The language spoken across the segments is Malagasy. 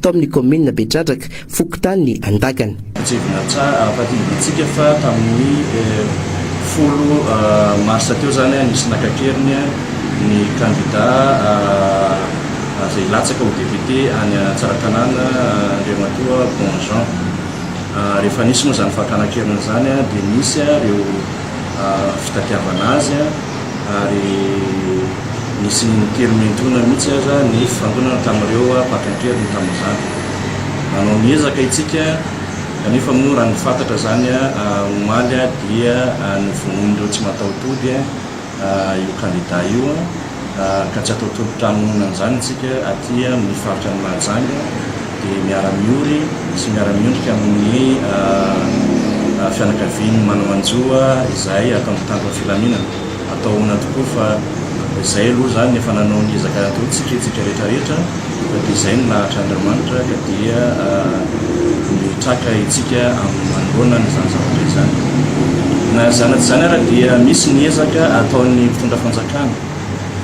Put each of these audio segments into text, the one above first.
tao amin'ny kaominina Betradraka, fokontany Andakana. Tsindrivina tsara ampahatsiahivin'ny antsika fa tamin'ny folo marsa teo izany nisy naka keriny ny kandida izay hilatsaka ho depiote any Tsaratanàna, Andriamatoa Bon Jean. Rehefa nisy moa izany fakana keriny izany dia nisy ireo fitadiavana azy. ary nisy niteny mihentoana mihitsy aza ny fifangonana tamin'ireo mpaka an-keriny tamin'izany. Nanao ny ezaka isika kanefa moa raha nifantatra izany omaly dia novonoin'ireo tsy mataho-tody io kandida io ka tsy atao tolotrano nohonan'izany isika aty amin'ny faritra an'i Mahajanga. dia miara-miory sy miara-miondrika amin'ny fianakavian'ny manao anjo izahay ato amin'ny Tanjon'ny filaminana. Atao ahoana tokoa fa izay aloha izany no efa nanao ny ezaka atao tsikintsika rehetra rehetra fa dia izay no lahatra Andriamanitra ka dia mitraka itsika amin'ny manoloana an'izany zavatra izany. Na izany na tsy izany ara dia misy ny ezaka ataon'ny mpitondra fanjakana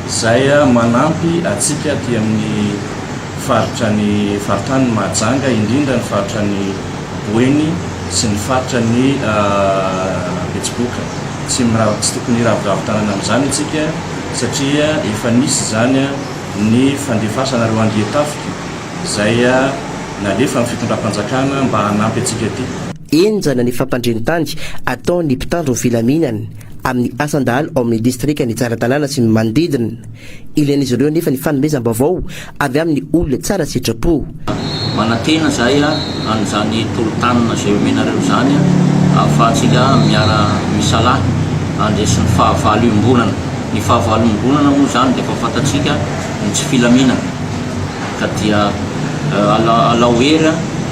izay manampy atsika aty amin'ny Faritra ny faritany ny Mahajanga, indrindra ny faritra ny Boeny sy ny faritra ny Betsiboka. Tsy mirava, tsy tokony hiraviravy tanana amin'izany isika satria efa nisy izany ny fandefasana ireo andian-tafika izay nalefan'ny fitondram-panjakana mba hanampy antsika aty. Henjana ny fampandren-tany ataon'ny mpitandro ny filaminana amin'ny asan-dahalo ao amin'ny distrikan'i Tsaratanàna sy ny manodidina. Ilain'izy ireo anefa ny fanomezam-baovao avy amin'ny olona tsara sitrapo. Manantena izahay an'izany tolo-tanana izay omenareo izany ahafahantsika miara-misalahy handresy ny fahavalo iombonana. Ny fahavalo iombonana moa izany dia efa fantatsika ny tsy filaminana ka dia alao hery.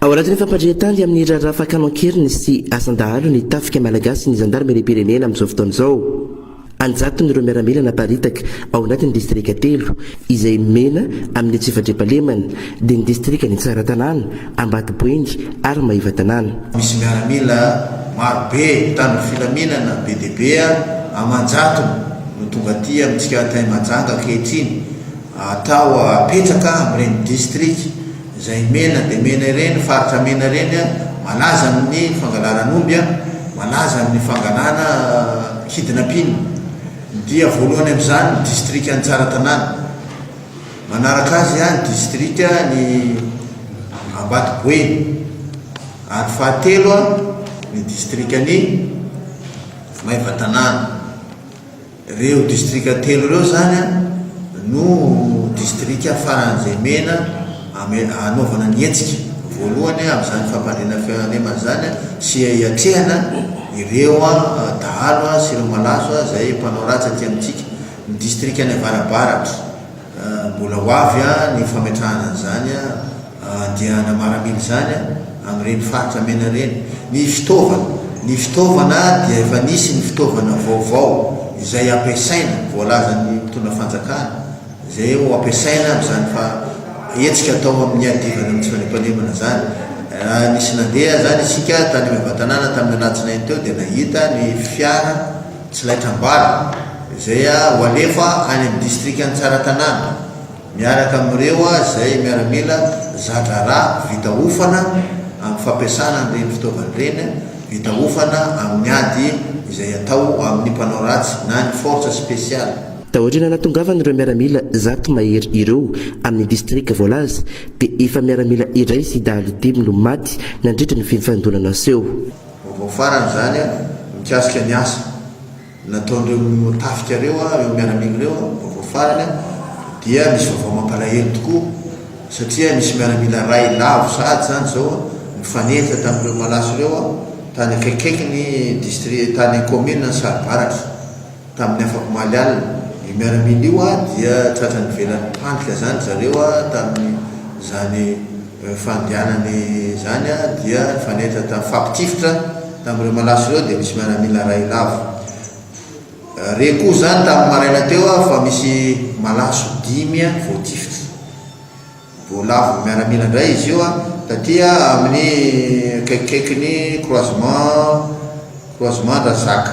Ao anatin'ny fampandrian-tany amin'ny raharaha fakàna an-keriny sy asan-dahalo ny Tafika malagasy ny zandarimeriam-pirenena amin'izao fotoana izao. An-jatony ireo miaramila naparitaka ao anatin'ny distrika telo izay mena amin'ny tsy fandriampahalemana, dia ny distrikan'i Tsaratanàna, Ambatoboingy ary Maevatanàna. Misy miaramila maro be mpitandro filaminana be dia be aman-jatony no tonga aty amintsika Antaimajanga ankehitriny atao apetraka amin'ireny distrika. izay mena dia mena ireny faritra mena ireny malaza amin'ny fangalaran'omby a, malaza amin'ny fangalana hidina mpino dia voalohany amin'izany ny distrika ny Tsaratanàna, manaraka azy a ny distrika ny Ambatoboeny ary fahatelo a ny distrika ny Maevatanàna. Ireo distrika telo ireo izany no distrika faran'izay mena hanaovana ny hetsika voalohany amin'izany fampandriana fialemana izany sy hiatrehana ireo dahalo sy ireo malaso izay mpanao ratsy aty amintsika. Ny distrikan'ny avarabaratra. Mbola ho avy ny fametrahana an'izany andiana maramila izany amin'ireny faritra mena ireny. Ny fitaovana, ny fitaovana dia efa nisy ny fitaovana vaovao izay ampiasaina, voalazan'ny mpitondra fanjakana, izay ho ampiasaina amin'izany hetsika atao amin'ny hiadivana ny tsy fandriampahalemana izany. Raha nisy nandeha izany isika tany Ambatanana tamin'ny alatsinainy teo dia nahita ny fiara, Tsy laitram-bala, izay ho alefa any amin'ny distrikan'i Tsaratanàna, miaraka amin'ireo izay miaramila za-draharaha vita hofana amin'ny fampiasana an'ireny fitaovana ireny, vita hofana amin'ny ady izay atao amin'ny mpanao ratsy na ny Forces Spéciales. Taoriana nahatongavan'ireo miaramila zato mahery ireo amin'ny distrika voalaza, dia efa miaramila iray sy dahalo dimy no maty nandritra ny fifandonana naseho. Vaovao farany izany mikasika ny asa nataon'ireo tafika ireo, ireo miaramila ireo, vaovao farany dia misy vaovao mampalahelo tokoa satria misy miaramila iray lavo sahady izany izao nifanenjika tamin'ireo malaso ireo tany akaikikaikin'ny distri, tany kaominina Saribaratra. Tamin'ny afakomaly alina, io miaramila io dia tratra nivelan'ny mpandrika izany ry zareo tamin'izany fandianany izany dia nifanehitra tamin'ny fifampitifitra tamin'ireo malaso ireo dia misy miaramila iray lavo re koa izany tamin'ny maraina teo fa misy malaso dimy voatifitra vao lavo miaramila indray izy io taty amin'ny akaikikaikin'ny croisement croisement Andrazaka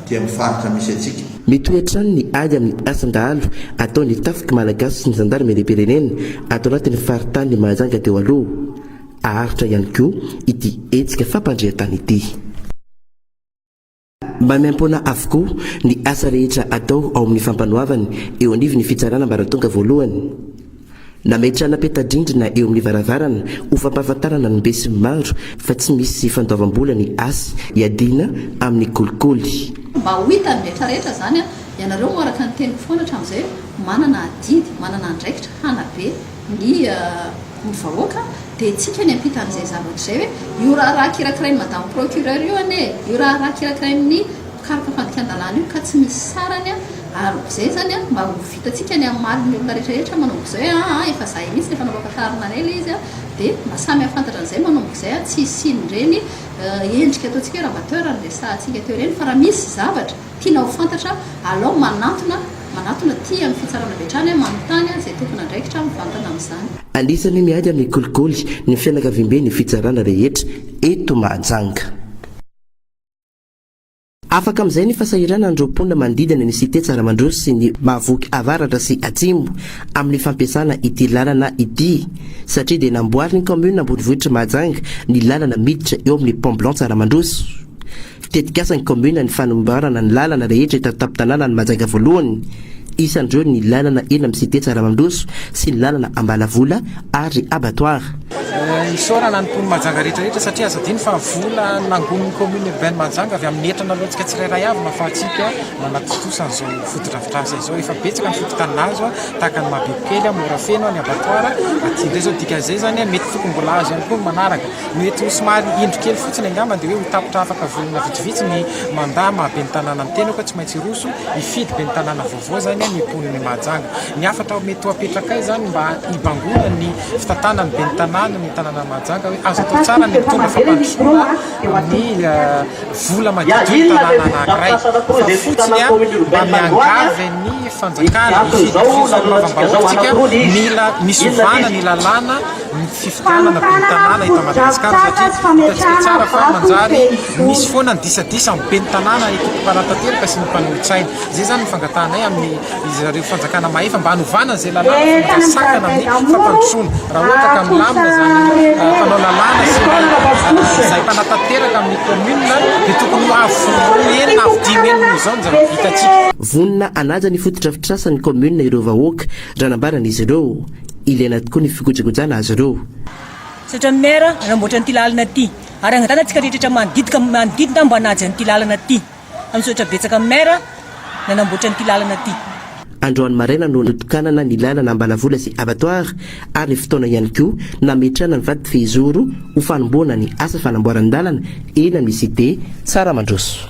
dia amin'ny faritra misy antsika. Mitohy hatrany ny ady amin'ny asan-dahalo ataon'ny Tafiky Malagasy sy ny Zandarimeriam-pirenena ato anatin'ny faritanin'i Mahajanga teo aloha. Haharitra ihany koa ity hetsika fampandrian-tany ity. Mba miampona avokoa ny asa rehetra atao ao amin'ny fampanoavana eo anivon'ny Fitsarana ambaratonga voalohany. Nametrahana peta-drindrina eo amin'ny varavarana ho fampahafantarana ny besinimaro fa tsy misy fandoavam-bola ny Asy iadiana amin'ny kolikoly. Mba ho hitan'ny rehetrarehetra izany, ianareo moa araka ny teniko foana hatramin'izay, manana adidy, manana andraikitra hanabe ny ny vahoaka, dia hetsika any ampitan'izay zavatra izay hoe, io raharaha kirakirain'i Madame Procureur io anie e! io raharaha kirakirain'ny. Carte fandikan-dalàna io ka tsy misy sarany a! Ary bzay zany a! Mba ho vitantsika ny hamaly ny olona rehetra rehetra manao bzay a! Aa efa zahay mihitsy rehefa nanao fantaharana anay le izy a! De mba samy hafantatra an'izay manao bzay a! Tsy hisian'ireny endrika ataontsika hoe rabatteur no resahantsika teo ireny fa raha misy zavatra tiana ho fantatra alao manantona manatona aty amin'ny fitsarana avy hatrany a! Manontany a! Izay tompon'andraikitra mivantana amin'izany. Anisan'ny miahy amin'ny kolikoly ny fianakaviambe ny fitsarana rehetra eto Mahajanga. Afaka amin'izay ny fasahiranan'ireo mponina manodidina ny Cité Tsaramandroso sy ny Mahavoky Avaratra sy Atsimo amin'ny fampiasana ity lalana ity satria dia namboarin'ny kaominina ambonivohitr'i Mahajanga ny lalana miditra eo amin'ny Pont Blanc Tsaramandroso. Tetikasan'ny kaominina ny fanamboarana ny lalana rehetra eto an-tampon-tanànan'i Mahajanga Voalohany. Isan'ireo ny lalana eny amin'ny Cité Tsaramandroso sy ny lalana Ambalavola ary Abattoir. Isaorana ny mponin'i Mahajanga rehetra rehetra satria aza adino fa vola nangonin'ny commune urbaine Mahajanga avy amin'ny hetra naloantsika tsirairay avy no ahafahantsika nanatontosa an'izao fotodrafitrasa izao. Efa betsaka ny fokontany nahazo tahaka an'i Mahabebokely, Morafeno, ny Abattoir aty indray izao dikan'izay izany mety tokony mbola hahazo ihany koa ny manaraka. No eto somary indro kely fotsiny angamba dia hoe ho tapitra afaka volana vitsivitsy ny mandat maha ben'ny tanàna ny tenako, tsy maintsy hiroso. Hifidy ben'ny tanàna vaovao izany ny mponin'i Mahajanga. Ny hafatra mety ho apetrakay izany mba hibangoana ny fitantanan'ny ben'ny tanàna ny tanànan'i Mahajanga hoe azo atao tsara ny mitondra fampandrosoana ny vola madidin'ny tanàna anankiray fa fotsiny mba miangavy ny fanjakana hifidy fifamonoam-bahoaka tsika mila misovana ny lalàna ny fifidianana ben'ny tanàna eto Madagasikara satria hitantsika tsara fa manjary misy foana ny disadisa amin'ny ben'ny tanàna eto mpanatanteraka sy ny mpanolotsaina. Izay izany ny fangatahanay amin'ny izy ireo fanjakana mahefa mba hanovana izay lalàna fa manjary sakana amin'ny fampandrosoana. Raha ohatra ka milamina izany fanao lalàna sy ny izay mpanatanteraka amin'ny kaominina dia tokony ho avo roa heny na avo dimy heny noho izao ny zava-bitantsika. Vonona hanaja ny fotodrafitrasa ny kaominina ireo vahoaka, raha nambaran'izy ireo. Ilaina tokoa ny fikojakojana azy ireo. Misaotra ny Maire nanamboatra an'ity lalana ity ary angatahana antsika rehetra manodidika manodidina mba hanaja an'ity lalana ity fa misaotra betsaka ny Maire nanamboatra an'ity lalana ity. Androany maraina no notokanana ny lalana Ambalavola sy Abattoir ary ny fotoana ihany koa nametrahana ny vady fehizoro ho fanombohana ny asa fanamboaran-dalana eny amin'ny Cité Tsaramandroso.